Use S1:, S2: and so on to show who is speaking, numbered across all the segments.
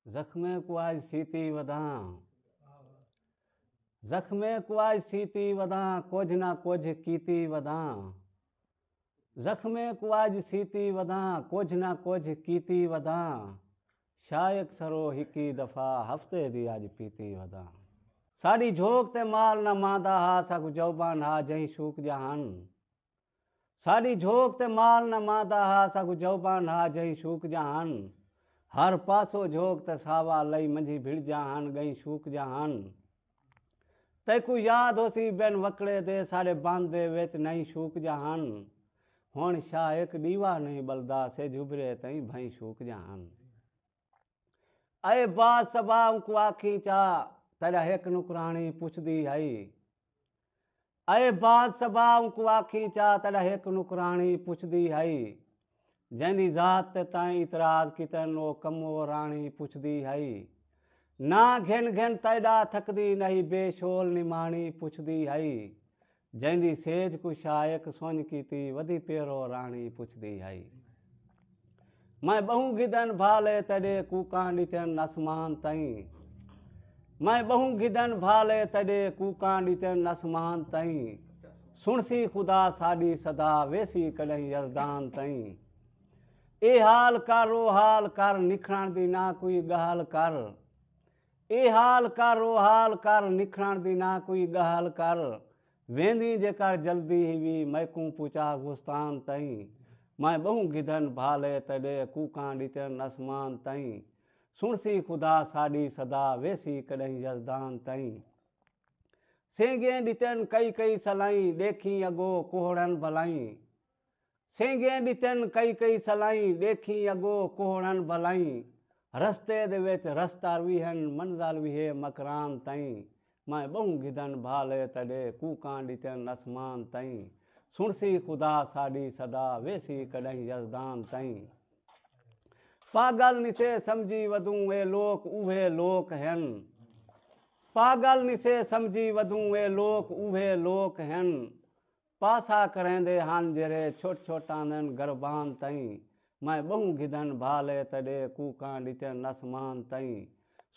S1: زخمیں کو آج سیتی وداں زخمیں کو آج سیتی وداں کچھ نہ کچھ کیتی وداں زخمیں کو آج سیتی وداں کچھ نہ کچھ کیتی وداں شائق سرو ہکی دفعہ ہفتے دی آج پیتی وداں ساڈی جھوک تے مال نہ ماندا ہا ساکو جوبان ہا جہیں شوک جہان ساڈی جھوک تے مال نہ مادا ہا ساکو جھو بانڈ ہا جہیں شوک جا ہن ہر پاسو جھوک تے ساوا لئی منجھی بھڑ جا ہن گئیں شوک جا ہن تیکو یاد ہوسی بن وکڑے دے ساڈے بند دے وچ نہیں شوک جا ہن ہن شاہ ایک ڈیوا نہیں بلدا سے جھبرے تئیں بھئیں شوک جا ہن۔ اے با صبا اونکوں آکھیں چا تیڈا ہک نکرانی پچھدی ہئی۔ اے با صبا اونکوں آکھیں چا تیڈا ہک نکرانی پچھدی ہئی۔ جیندی ذات تے تیں اعتراض کیتن او کمو رانی پچھدی ہئی۔ ناں گھن گھن تیڈا تھکدی نہیں بے شول نمانی پچھدی ہئی۔ جیندی سیج کوں شائق سنج کیتی ودی پیرو راݨی پچھدی ہئی۔ میں ٻہوں گھدن بھا لئے تیݙے کوکاں ݙتن اسمان تئیں میں ٻہوں گھدن بھا لئے تیݙے کوکاں ݙتن اسمان تئیں سݨسی خدا ساݙی صدا ویسی کݙاہیں یزدان تئیں اے حال کر او حال کر نکھڑݨ دی نہ کوئی ڳالھ کر اے حال کر او حال کر نکھڑݨ دی نہ کوئی ڳہل کر ویندیں جے کر جلدی ہیوی میکوں پچا گستان تئیں میں ٻہوں گدھن بھالے تیݙے کوکاں ݙتن اسمان تئیں سݨسی خدا ساݙی صدا ویسی کݙہیں یزدان تئیں سینگیں ݙتن کئی کئی سلائیں ݙیکھیں اڳو کوہڑن بھلائیں۔ سینگھیں ݙتن کئی کئی سلائیں، ݙیکھیں اڳو کوہڑ ہن بھلائیں رستے دے وچ رستار وی ہن، منزل وی ہے مکران تئیں میں ٻہوں گھدن بھالے تݙے کوکاں ݙتن اسمان تئیں سݨسی خدا ساݙی صدا ویسی کݙاہیں یزدان تئیں پاڳل نسے سمجھی ودوں اے لوک اوہے لوک ہن پاڳل نسے سمجھی ودوں اے لوک اوہے لوک ہن پاسا کریندے ہن جیرھے چھٹ چھٹ آندن گربان تئیں میں بہوں گھدن بھالے تیڈے کوکاں ڈتن اسمان تئیں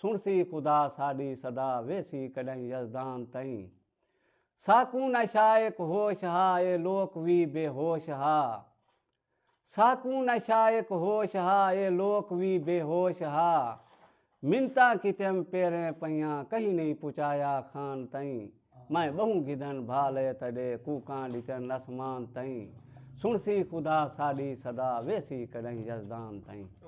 S1: سنڑسی خدا ساڈی صدا ویسی کڈہیں یزدان تئیں ساکوں نشہ ایک ہوش ہا اے لوک وی بے ہوش ہا۔ ساکوں نہ شائق ہوش ہا اے لوک وی بے ہوش ہا منتاں کیتیم پیریں پئیاں کہیں نئیں پچایا خان تئیں میں بہوں گھدن بھا لئے تڈے کوکاں ڈتن اسمان تئیں سنڑسی خدا ساڈی صدا ویسی کڈہیں یزدان تئیں۔